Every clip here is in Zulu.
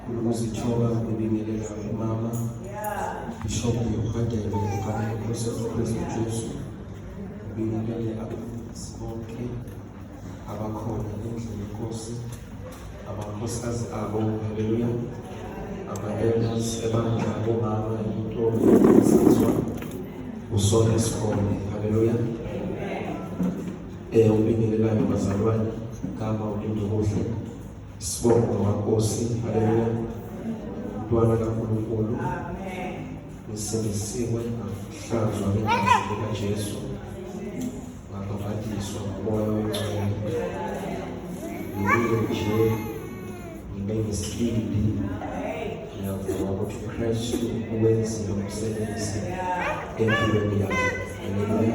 ukuzithoba kubingelela umama ishopo yokubhadela ukubhadela kusefukuze Jesu ubingelele abafundi bonke abakhona endlini yenkosi amakhosikazi abo haleluya ama-elders ebandla bomama into esizwa usona isikole haleluya Eh ubingelelayo bazalwane kama ulinde kuhle. Sibonga waNkosi. Haleluya. Mntwana kaNkulunkulu. Amen. Ngisindisiwe ngahlanzwa ngegazi likaJesu. Ngabhabhatiswa ngomoya oyingcwele. Ngiyile nje ngibe ngesibindi. Ngiyavuma ukuthi uKristu uwenzile umsebenzi empilweni yami. Haleluya.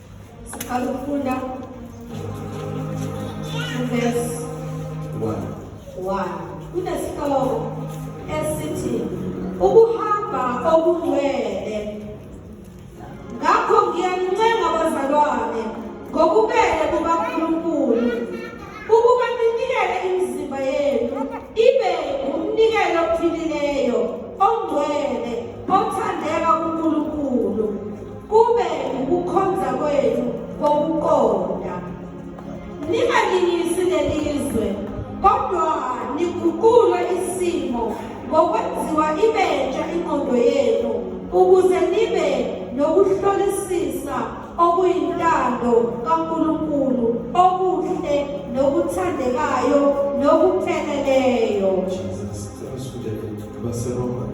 Siqala ukufunda verse 1. 1. Kunesihloko esithi ukuhamba okungcwele. Ngakho ngiyanincenga bazalwane ngokubele kukaNkulunkulu ukuba ninikele imizimba yenu ibe umnikelo ophilileyo ongcwele othandeka kuNkulunkulu kube ukukhonza kwenu kokuqonda ningalingisi lelizwe kodwa niguqule isimo ngokwenziwa ibentsha ingqondo yenu ukuze nibe nokuhlolisisa okuyintando kaNkulunkulu okuhle nokuthandekayo nokupheleleyo Jesus, thanks for the Lord.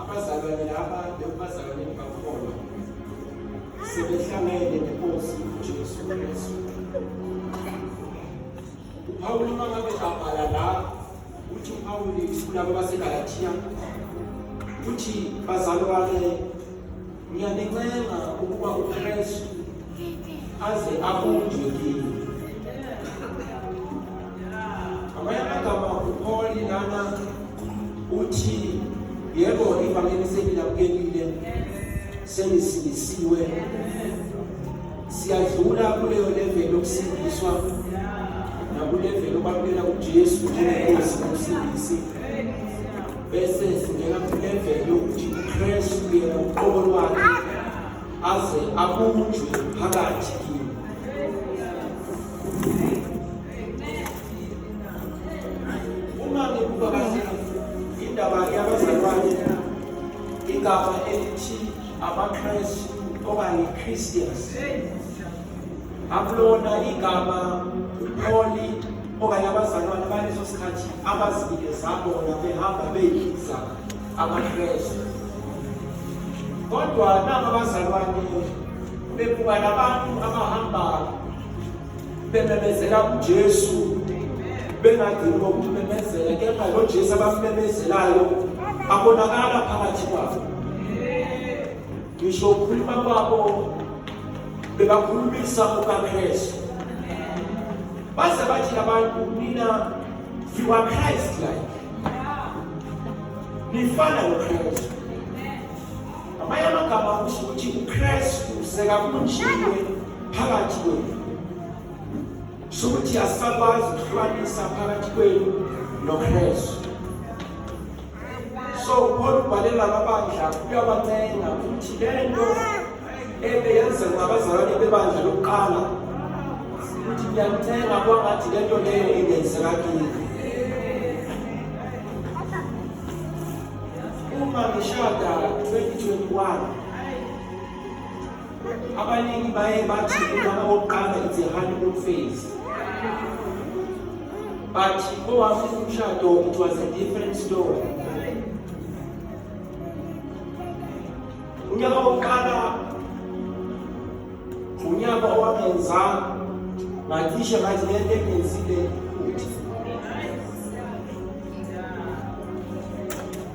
Abazalwane laba bekubazalwane bakakhona sebehlangene nenkosi uJesu Kristu. UPawulu uma ngabe abhala la uthi uPawulu kulabo baseGalatiya uthi bazalwane Ngiyanincenga ukuba uKristu aze abunjwe kini. Amanye amagama uPauli lana uthi yebo ivangeli selilamukelile selisindisiwe siyadlula kuleyo level yokusindiswa nakulevel obalukela uJesu njengenkosi nomsindisi bese singena kuleveli yokuthi uKristu yena uqobo lwakhe aze abunjwe phakathi kimi uma ngikuba kahle indaba yabazalwane igama elithi amakristu okanye christians akulona igama umholi okanye abazalwane baleso sikhathi abazibike zabona behamba beyidliza amakrestu kodwa naba abazalwane bebuka nabantu abahamba bememezela ujesu bengadini kokumemezela kepha lo jesu abamemezelayo abonakala phakathi kwabo ngisho ukukhuluma kwabo bebakhulumisa ukaKristu baze bathi abantu nina you are Christ like nifana noKristu amanye amagama kusho ukuthi uKristu sekakunjile phakathi kwenu sho ukuthi asakwazi ukuhlukanisa phakathi kwenu noKristu so ukhona ubhalela ababandla uyabancenga ukuthi le nto ebe yenzelwa abazalwane bebandla lokuqala ukuthi ngiyancenga kwangathi le nto leyo ingenzeka kini uma ngishada 2021 abaningi baye bathi umama wokuqala it's a honeymoon phase but owafuna umshado it was a different story unyaka wokuqala unyaka owangenza ngacishe ngathi le nto engenzile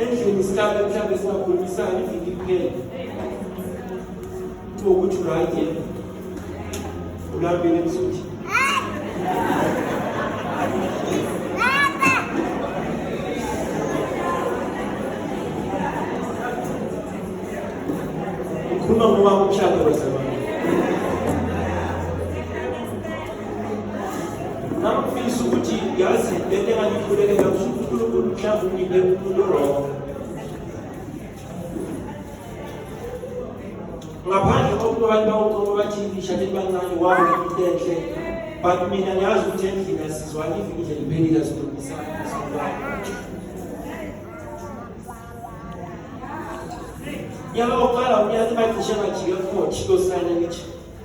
endlini sihlale mhlawumbe singakhulumisani iviki kuphela kuthiwa ukuthi right yena ulambile msuthi ukhuluma ngoba umshado wezabanye ngangifisa ukuthi yazi le nto engangikhulekela kusho ukuthi unkulunkulu mhlawumbe ungiphe umuntu wrong ngaphandle kokuba abantu bawuqobo bathi ishade libancane wawo into enhle but mina ngiyazi ukuthi endlini asizwani ivikile liphelile asilungisani asilungani yaba uqala unyaka bagcishe ngajike futhi kosana ngithi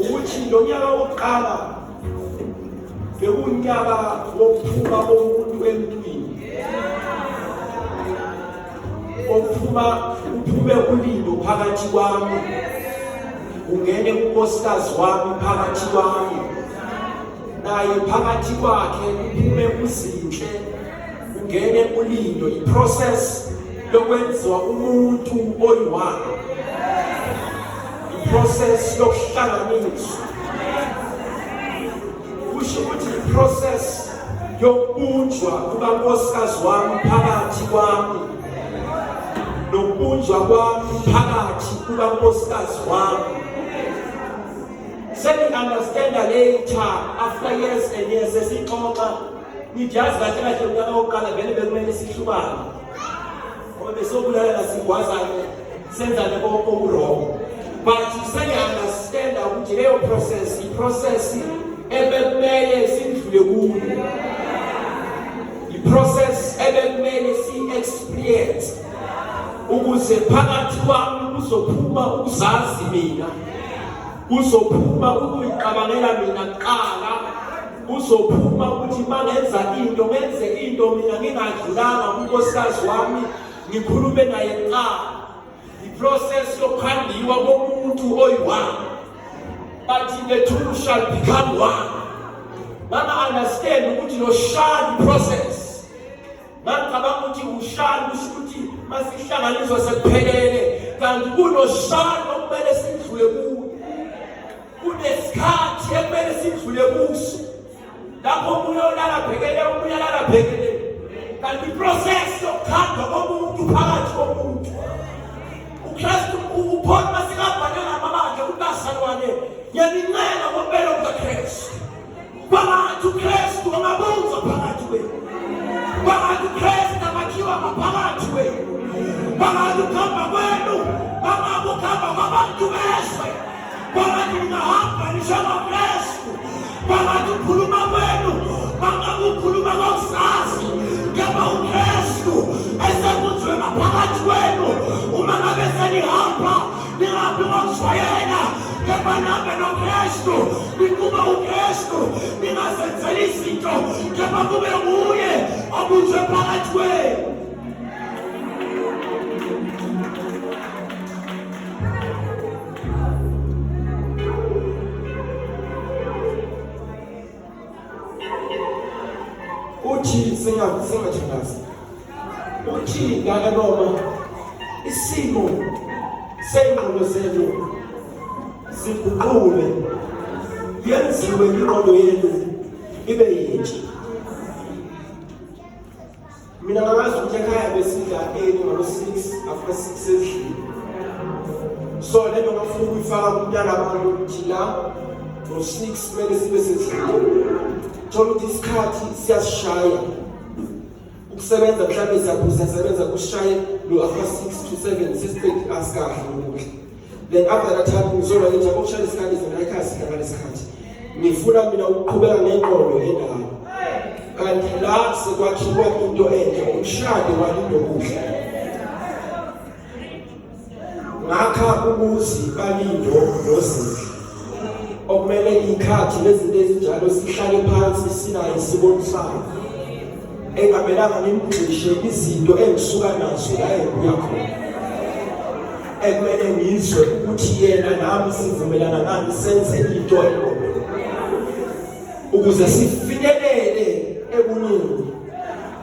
ukuthi lo nyaka wokuqala bewunyaka wokuphuma komuntu emntwini okuphuma kuphume ulindo phakathi kwami ungene unkosikazi wami phakathi kwami naye phakathi kwakhe kuphume uzinhle ungene ulindo iprocess lokwenziwa umuntu oyiwakhe process yokuhlanganiswa kusho ukuthi process yokubunjwa kukankosikazi wami phakathi kwami nokubunjwa kwami phakathi kukankosikazi wami sengi-understanda later after years and years esixoxa ngijazi kahle kahle mntana wokuqala vele bekumele sihlubane ngoba besokulalela sigwazane senzane okuwrong but sengiunderstanda ukuthi leyo process iprocess ebekumele sidlule kuyo iprocess ebekumele si-experience ukuze phakathi kwami kuzophuma ukuzazi mina kuzophuma ukuyicabangela mina kuqala kuzophuma ukuthi mangenza into ngenze into mina ngingadlulanga kunkosikazi wami ngikhulume naye kuqala iprocess yokhandiwa komuntu oyi-one but the two shall become one banga-understand ukuthi lo shall process bangicabanga ukuthi ushall kusho ukuthi masihlanganiswa sekuphelele kanti kulo shall okumele sidlule kuyo kunesikhathi ekumele sidlule kuso lapho omunye olala bhekele omunye alala bhekele kanti iprocess yokukhanda komuntu phakathi komuntu ukristu uphona masikabhane ngamabandla ukuthi bazalwane ngiyanincenga ngompelo kukakristu kwabantu ukristu amabuzo phakathi kwenu kwabantu ukristu amakhiwa maphakathi kwenu kwabantu ukuhamba kwenu bangakuhamba kwabantu bezwe Baba, tunahapa nishama Yesu. Baba, tukuluma kwenu. Baba, kukuluma kwa usazi. Kama uKristu ese kuzwe maphakathi kwenu. Uma ngabe senihamba ningaphi ngokushwayela. Kama nabe noKristu nikuba uKristu ningazenzeli izinto kama kube nguye obuzwe phakathi kwenu. uthi singathandazi uthi ngaka noma isimo sengqondo zethu siguqule yenziwe ingqondo yethu ibe yintsha mina ngakwazi ukuthi ekhaya besidla eni ngabo-six after six ezidlini so le nto ngafuna ukuyifaka kumntana abantu ukuthi la ngo-six kumele sibe sezidlini thola ukuthi isikhathi siyasishaya ukusebenza mhlawumbe siyaphuza sebenza kushaye lo-after six to seven sesiqedi asikahle ukudla Then after that time ngizolwa ngithi akushaya isikhathi zona ikhasi kanga lesikhathi. Ngifuna mina ukuqhubeka ngeqondo endala. Kanti la sekwakhiwa into enhle umshado walindokudla. Ngakha umuzi balindo nozinhle. okumele ngikhathi nezinto ezinjalo sihlale phansi sinayo sibonisayo engamelanga ngimgxishe izinto engisuka nazo la engibuya khona ekumele ngizwe ukuthi yena nami sivumelana ngani senze into elona ukuze sifinyelele ebuningi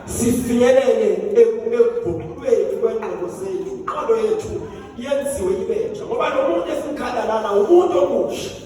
sifinyelele ekuguqulweni kwengqondo zethu inqondo yethu yenziwe ibentsha ngoba lo muntu esimkhala lana umuntu omusha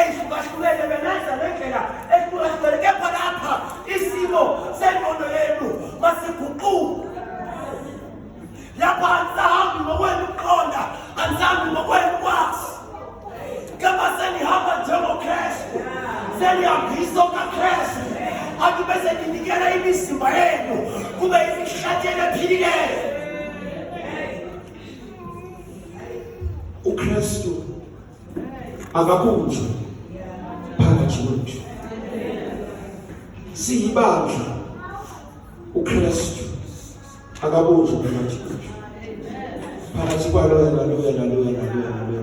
eyihlukahlukene bengaza ngendlela ehlukahlukene kepha lapha isimo sengqondo yenu masiguquke lapha angisahambi ngokwenu ukuqonda angisahambi ngokwenu ukwazi kepha senihamba njengokrestu senihambisa okakrestu abantu bese ninikela imizimba yenu kube imihlatshelo ephilileyo ukrestu akakhunjwe phakathi kwethu siyibandla uKristu akabunjwe phakathi kwethu phakathi kwalo yena lo yena lo yena lo yena lo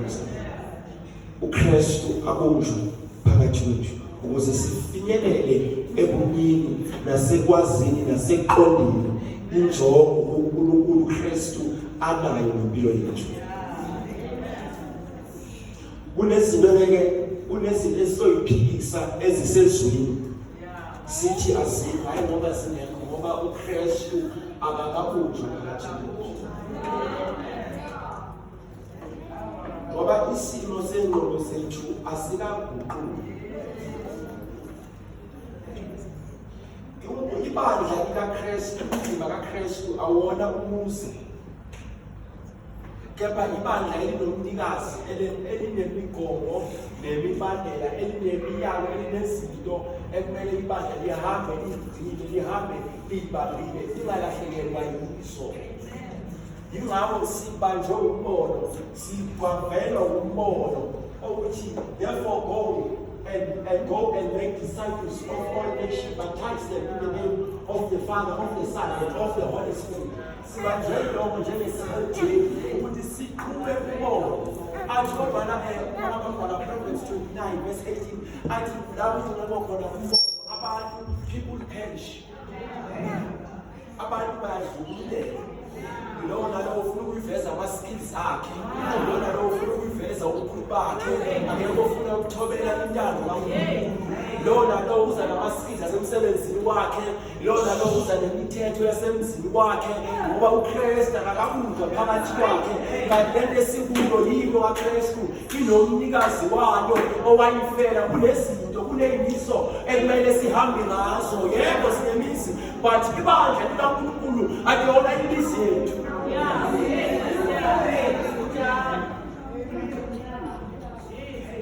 uKristu abunjwe phakathi kwethu ukuze sifinyelele ebumini nasekwazini naseqondeni injongo uNkulunkulu uKristu anayo ngempilo yethu kunezinto ngeke kunezinto esizoyiphikisa ezisezwini sithi azikho hayi ngoba zingekho ngoba uKristu akakabunjwa phakathi ngoba isimo sengqondo zethu asikaguquki ibandla likaKristu umzimba kaKristu awona umuzi kepha ibandla elinomnikazi elinemigomo nemibandela elinemiyalo elinezinto ekumele ibandla lihambe lizigcine lihambe liyibambile lingalahlekelwa yiso yingakho sibanjwe umbono Sikwavela umbono ukuthi therefore go and, and go and make disciples of all nations, baptize them in the name of the Father, of the Son, and of the Holy Spirit. Sibanjwe lokho njengesikhathini ukuthi siqhube umbono athi kodwana um abantwana province 29 verse 18 athi lapho kunqoba khona umbono abantu people perish abantu bayadlululeka lowo nalowo ufuna ukuyiveza ama-skills akhe lowo nalowo ufuna ukuyiveza ubukhulu bakhe akekho ofuna ukuthobela intando kankulunkulu lowo nalowo uza nama-skills asemsebenzini wakhe lowo nalowo uza nemithetho yasemzini wakhe ngoba ukristu akakakudwa phakathi kwakhe kanti lento esikuyo yiko kakristu inomnikazi wayo owayifela kunezinto kuneyimiso ekumele sihambe ngazo yebo sinemizi but ibandla likaNkulunkulu akuyona imizi yethu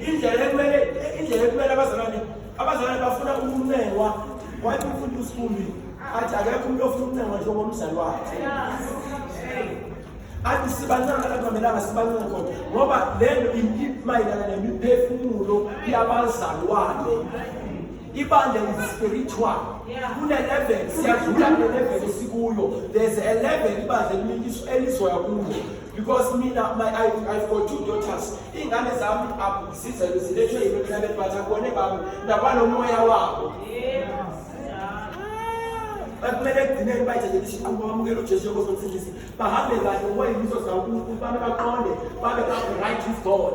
indlela ekumele indlela ekumele abazalwane abazalwane bafuna umnengwa wathi umfundi usikhumbi athi akekho umuntu ofuna umnengwa njengomzali wakhe athi sibancane akumelanga sibancane khona ngoba lento mayelana nemiphefumulo yabazalwane ibandla lispiritual kune-level siyadlula kune-level esikuyo there's a level ibandla eliminkiso elizoya kuyo because mina my, I, I've got two daughters iy'ngane zami zizelwe zilethwe yimekhlabethi bathi akubone bami nakwanomoya wabo bakumele ekugcineni bayithathele isinqumo bamukele ujesu yokosi omsindisi bahambe kahle ngoba yimiso zawo unkulunkulu babe baqonde babe right with god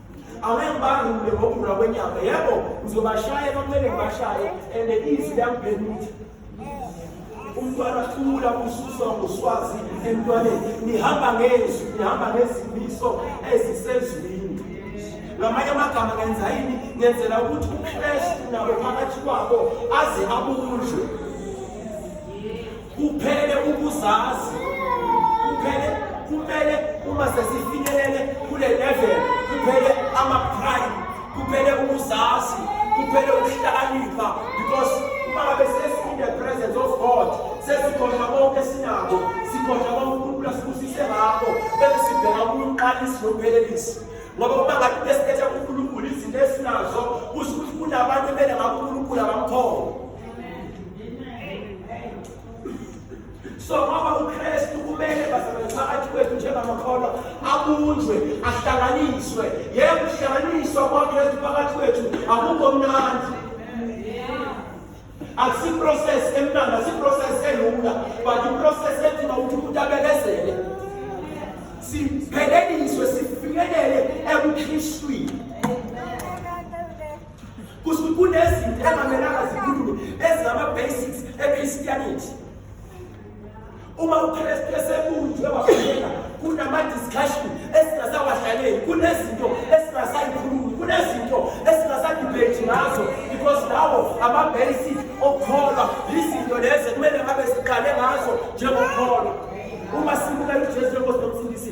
angeke bangule ngokugula kwenyama yebo ngizobashaya kwakumele ngibashaye and izwi liyangiphenutha umntwana ahlula kususwa ngoswazi emntwaneni nihamba ngezwi nihamba ngezimiso ezisezwini ngamanye amagama ngenza yini ngenzela ukuthi ukristu nabo phakathi kwabo aze abunjwe Kuphele ukuzazi. Kuphele kumele uma sesifinyelele kule level kuphele ama prime. Kuphele ukuzazi. Kuphele ukuhlakanipha because uma ngabe sesi in the presence of God sesikhohlwa konke sinako sikhohlwa konke uNkulunkulu asibusise ngakho bese sibheka umqalisi nomphelelisi ngoba uma ngabe besikhetha uNkulunkulu izinto esinazo kusho ukuthi kunabantu ebele ngakuNkulunkulu abamkhona so ngoba ukristu kumele basebenze phakathi kwethu njengamakholwa abunjwe ahlanganiswe yebo uhlanganiswa kwakristu phakathi kwethu akukho mnandi akusiprocess emnandi asiprocess elula but iprocess edinga ukuthi umuntu abekezele sipheleliswe sifikelele ebukristwini kusho ukuthi kunezinto engamelanga zikhulume ezingama-basics echristianity uma ukristu esekunjwe wafuneka kunama-discussion esingasawahlangeli kunezinto esingasayikhulumi kunezinto esingasadibhethi ngazo because lawo ama-basic okukholwa yizinto lezi ekumele ngabe siqale ngazo njengokukholwa uma sibukela ujesu enkosi nomsindisi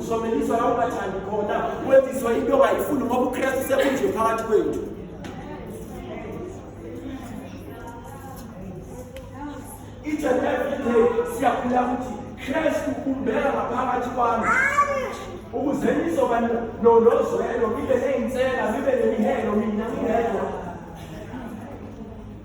Uzomeliswa la ungathandi khona, wenziswa into ongayifuni ngoba uKristu sekunje phakathi kwethu. Each and every day siyakhula ukuthi Kristu umbeka ngaphakathi kwami ukuze nizoba nozwelo, nibe neyinsela, nibe nemihelo mina ngingedwa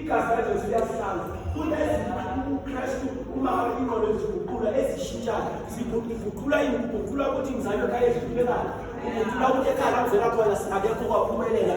Igazi likaJesu liyasihlanza kunezinto uKristu uma ingqondo ziguqula ezishintshayo ziguqula iguqula ukuthi ngizalwe ekhaya ehlulekayo iguqula ukuthi ekhaya langivela khona akekho kwaphumelela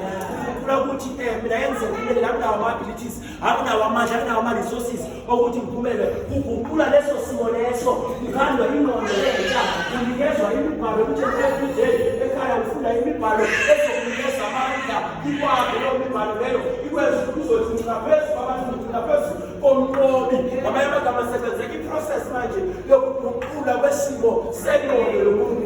iguqula ukuthi um mina engizekile nami nawo ama-abilities anginawo amandla anginawo ama-resources okuthi kuphumele kuguqula leso simo leso kukhandwa ingqondo lentsha kunikezwa imibhalo ukuthi everyday ekhaya ufunda imibhalo ezokunikeza amandla ikwakhe leyo mibhalo leyo ikwenza ukuthi uzothi ngina phezu kwabantu ngina phezu komlobi ngamanye amagama senzeka iprocess manje yokuguqula kwesimo sengqondo yomuntu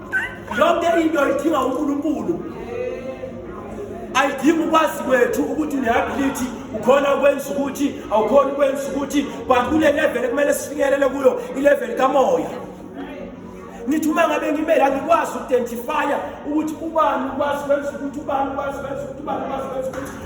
yonke into idinga uNkulunkulu ayidingi ukwazi kwethu ukuthi unehability ukhona ukwenza ukuthi awukhona ukwenza ukuthi but kule level ekumele sifinyelele kuyo ilevel kamoya ngithi uma ngabe ngimele angikwazi ukudentifya ukuthi ubani ukwazi kwenza ukuthi ubani ukwazi kwenza ukuthi ubani ukwazi kwenza ukuthi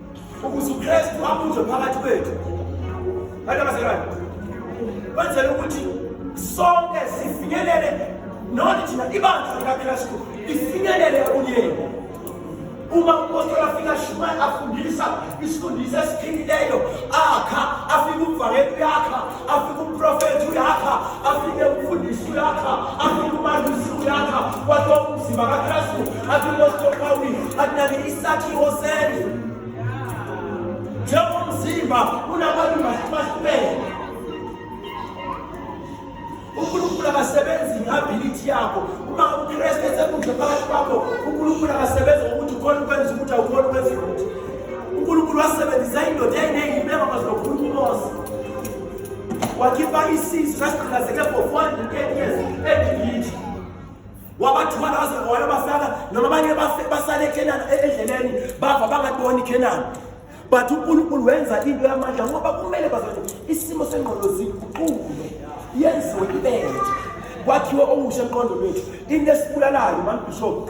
ukuze uKristu abunjwe phakathi kwethu bantu abazalwane kwenzela ukuthi sonke sifinyelele noni thina ibandla likaKristu ifinyelele ekuyeni uma umphostoli afike ashumayela afundisa isifundiso esiphilileyo akha afike umvangeli uyakha afike umprofethi uyakha afike umfundisi uyakha afike umalusi uyakha kwathiwa umzimba kakristu afike ositopawini akunake isakhiwo sendlu njengomzimba unamalunga simahlubele unkulunkulu akasebenzi ngeability yakho uma ukristu esekudle phakathi kwakho unkulunkulu akasebenzi ngokuthi ukhona ukwenza ukuthi awukhona ukwenza ukuthi uNkulunkulu wasebenzisa indoda eyayineyimeko kwaze lokhulu uMose wakhipha isisu sasigqilazeke for 410 years eGibithe wabathwala waze wayobafaka noma abanye basale eKhenana e-, endleleni bava bangaboni iKhenana but uNkulunkulu wenza into yamandla ngoba kumele bazane isimo sengqondo siguquke yenziwe ibele kwakhiwe okusha emqondo wethu into esibulalayo manje bishop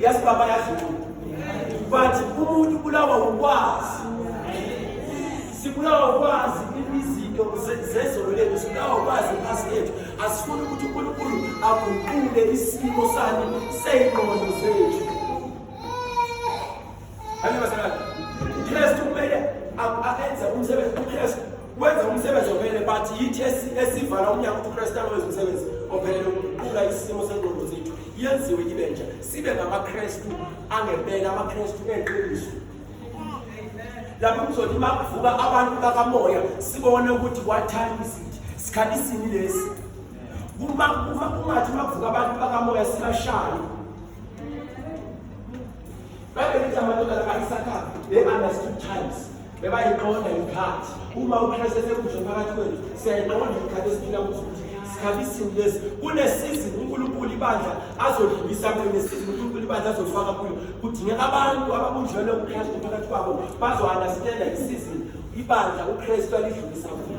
yazi baba yazi bathi umuntu ubulawa ukwazi sibulawa ukwazi izinto zezolo lethu sibulawa ukwazi iphasi lethu asifuni ukuthi unkulunkulu aguqule isimo sani seyingqondo zethu Hadi mesela. Biraz çok böyle. Aferin sen bunu sever. Biraz Wenza umsebenzi ophelele but yithi esivala umnyango ukuthi uKristu awenze umsebenzi ophelele ukuqula isimo sengqondo zethu yenziwe ibe nje sibe ngamaKristu angempela amaKristu eqiniso lapho kuzothi uma kuvuka abantu bakamoya sibone ukuthi what time is it sikhathi sini lesi uma uma kungathi uma kuvuka abantu bakamoya sibashaye Babelithi amadodana ayisakhaza, they understood times. Bebayiqonda ikhathi. Uma uKristu esekusho phakathi kwethu, siyayiqonda ikhathi esiphila kuzo ukuthi sikhathi isini lesi. Kunesizini uNkulunkulu ibandla azodlulisa kuyo, nesizini uNkulunkulu ibandla azofaka kuyo. Kudingeka abantu ababunjwele uKristu phakathi kwabo bazo-understanda isizini ibandla uKristu alidlulisa kuyo.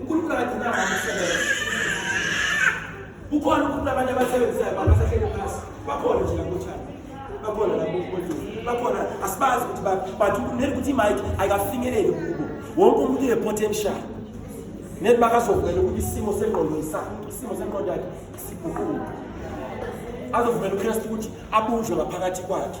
uNkulunkulu akagcina abantu isebenza kukhona uNkulunkulu abantu abasebenzisayo abantu asahlele phasi bakhona nje lakuthana bakhona lakuthi bakhona asibazi ukuthi baphi but neli ukuthi imike ayikafinyeleli kubo wonke umuntu une-potential neli bakazovumela ukuthi isimo sengqondo isakhe isimo sengqondo yakhe siguquke azovumela uKristu ukuthi abunjwe ngaphakathi kwakhe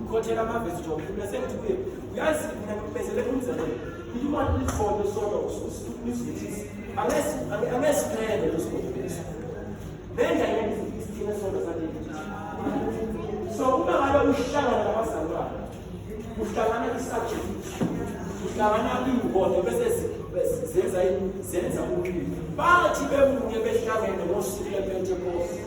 ukhothela amavesi njengoba mina sengithi kuye uyazi mina ngikubezelele umzekelo imali likhona sona usuzithisi angesiphele losibonisa benza yena isithina sona saleli so uma ngabe uhlangana nabazalwane uhlangana isubject uhlangana iwona bese zenza zenza umlilo bathi bemunye behlangene ngosuku lepentekoste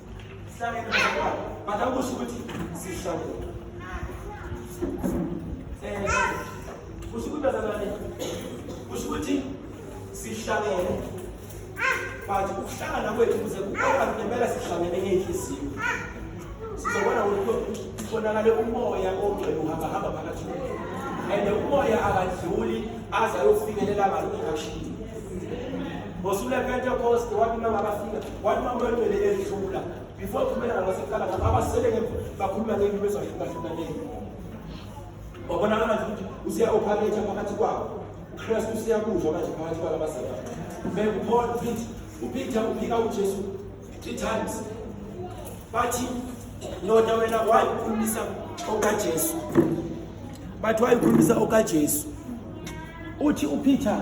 Sihlangene bazalwane. Bada ukusho ukuthi sihlangene. Eh, kusho ukuthi bazalwane. Kusho ukuthi sihlangene. But ukuhlangana kwethu kuze kuqala ngempela sihlangene ngeyinhliziyo. Sizobona ukuthi kubonakale umoya ongcwele uhamba hamba phakathi kwethu. And umoya akadluli aze ayofikelela ngalokho ashilo. Ngosuku lePentecost wathi uma ngabafika One makwetwele edlula before thumela ngaseqala ngapha abasele ngemva bakhuluma ngezinto bezahlukahlukaneni wabonakala nje ukuthi useya-opharetha phakathi kwabo ukristu useyakuzwa manje phakathi kwabo abasele bekuphona upeter upeter uphika ujesu three times bathi ndoda wena wayikhulumisa okajesu bathi wayikhulumisa okajesu uthi upeter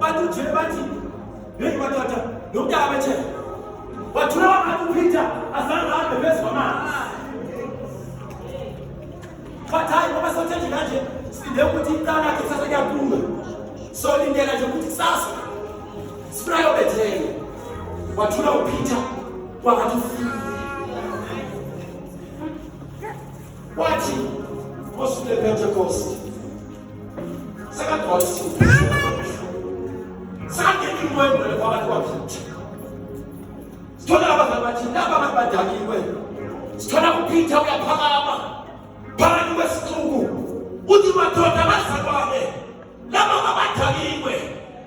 Bathi nje bathi hey madoda lo mntaka bethe wathula wathi uPeter azange ahambe phezu kwamanzi. Bathi hayi ngoba sothe nje kanje sinde ukuthi iqala yakhe kusasa kuyaphuma. Solindela nje ukuthi kusasa sifuna Bethel. Wathula uPeter wangathi ufile. Wathi Nkosi uLepentekoste sithola abazali bathi laba abantu badakiwe sithola uphitha uyaphakama phakathi kwesixuku uthi madoda bazalwane laba babadakiwe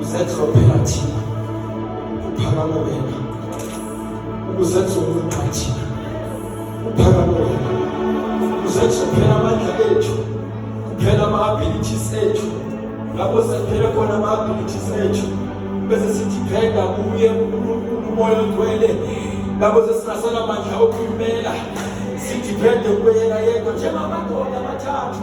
Uzenhlophela thina. Uphakame wena. Uzenza umuntu thina. Uphakame wena. Uzenza phela amandla ethu. Kuphela ama abilities ethu. Lapho sephele khona ama abilities ethu. Bese sithi phela kuye uNkulunkulu umoya ogcwele. Lapho sesingasela amandla okumela. Sithi phela kuyena yedwa njengamadoda amathathu.